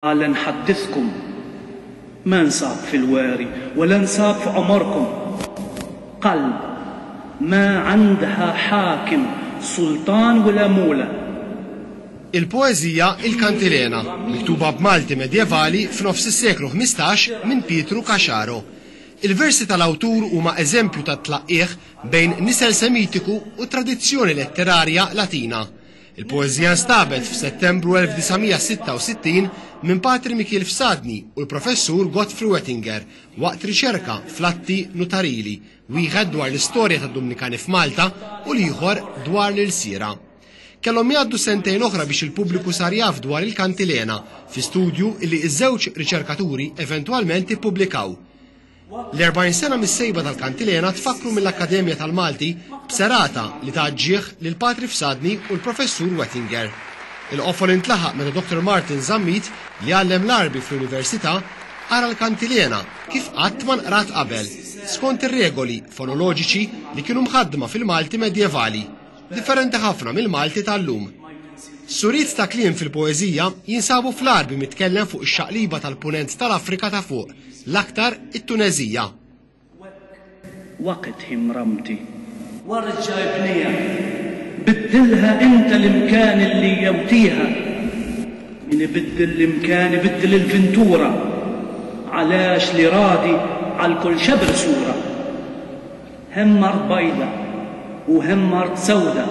Għala nħaddithkum? Ma nsab fil-weri wa la nsab f'għomorkom qalb ma għandha ħakim, sultan u la mula. Il-poeżija Il-Kantilena, miktuba b'Malti medjevali f'nofs is-seklu ħmistax minn Pietru Caxaro. Il-versi tal-awtur huma eżempju tat-tlaqqigħ bejn nisel Semitiku u tradizzjoni letterarja Latina. Il-poeżija nstabet f'Settembru 1966 minn Patri Mikiel Fsadni u l-Professur Godfrey Wettinger waqt riċerka fl-atti nutarili, wieħed dwar l-istorja tad-Dumnikani f'Malta u l-ieħor dwar l-ilsiera. Kellhom jgħaddu sentejn oħra biex il-pubbliku sar jaf dwar il-kantilena fi studju li ż-żewġ riċerkaturi eventwalment ippubblikaw. L-40 sena mis-sejba tal-kantilena tfakkru mill-Akkademja tal-Malti b'serata li ta' ġieħ lil Patri Fsadni u l-Professur Wettinger. Il-qofol intlaħaq meta Dr. Martin Zammit, li għallem l-Għarbi fl-Università, qara l-kantilena kif qatt ma nqrat qabel, skont ir-regoli fonoloġiċi li kienu mħaddma fil-Malti medjevali. differenti ħafna mill-Malti tal-lum. Suriet ta' kliem fil-poeżija jinsabu fl-Għarbi mitkellem fuq ix-xaqliba tal-punent tal-Afrika ta' fuq, l-aktar it-Tuneżija. Waqt hi mramti. Warġa' ibniha. Biddilha inta l-imkan li jewtieha. Min ibiddel l-imkan ibiddel il-vintura. Għalax li ragħdi għal kull xebr sura. Hemm mard bajda u hemm mard sewda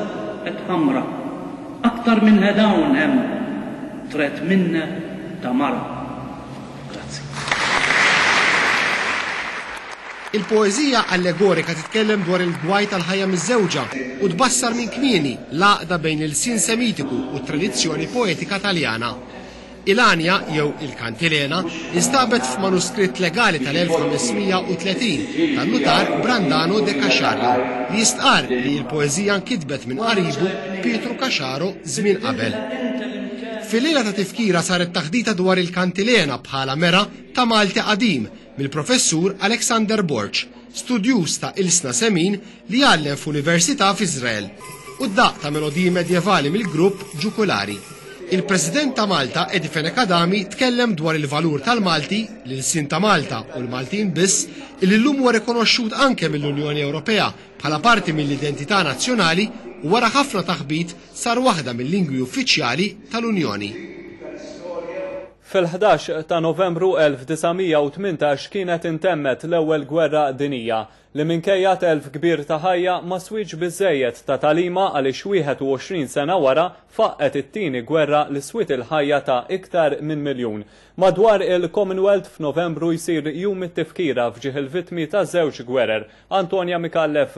et ħamra. Aktar minn hedawn hemm tret minne ta' mara. Grazzi. Il-poeżija allegorika titkellem dwar il-gwaj tal-ħajja miżżewġa u tbassar minn kmieni l-għaqda bejn l-ilsien Semitiku u t-tradizzjoni poetika Taljana. Il-għanja, jew il-kantilena, instabet f'manuskritt legali tal-1530 tan-nutar Brandano de Caxario li jistqarr li l-poeżija nkitbet minn qaribu Pietru Caxaro żmien qabel. Fil-lejla ta' tifkira saret taħdita dwar il-kantilena bħala mera ta' Malti qadim mill-Professur Alexander Borg, studjuż ta' ilsna semin li għallem f'università f'Iżrael, u d-daqq ta' melodiji medjevali mill-grupp Jukulari. Il-President ta' Malta, Eddie Fenech Adami, tkellem dwar il-valur tal-Malti, l-ilsien ta' Malta u l-Maltin biss, illi llum huwa rikonoxxut anke mill-Unjoni Ewropea bħala parti mill-identità nazzjonali u wara ħafna taħbit sar waħda mil-lingwi uffiċjali tal-Unjoni. Fil-ħdax ta' Novembru 1918 kienet intemmet l-Ewwel Gwerra Dinija. li minkejja telf kbir ta' ħajja ma swiex biżżejjed ta' tagħlima għaliex 21 sena wara faqqgħet it-tieni gwerra li swiet il-ħajja ta' iktar minn miljun. Madwar il-Commonwealth f'Novembru jsir Jum it-Tifkira f'ġieħ il-vittmi taż-żewġ gwerer, Antonia Micallef,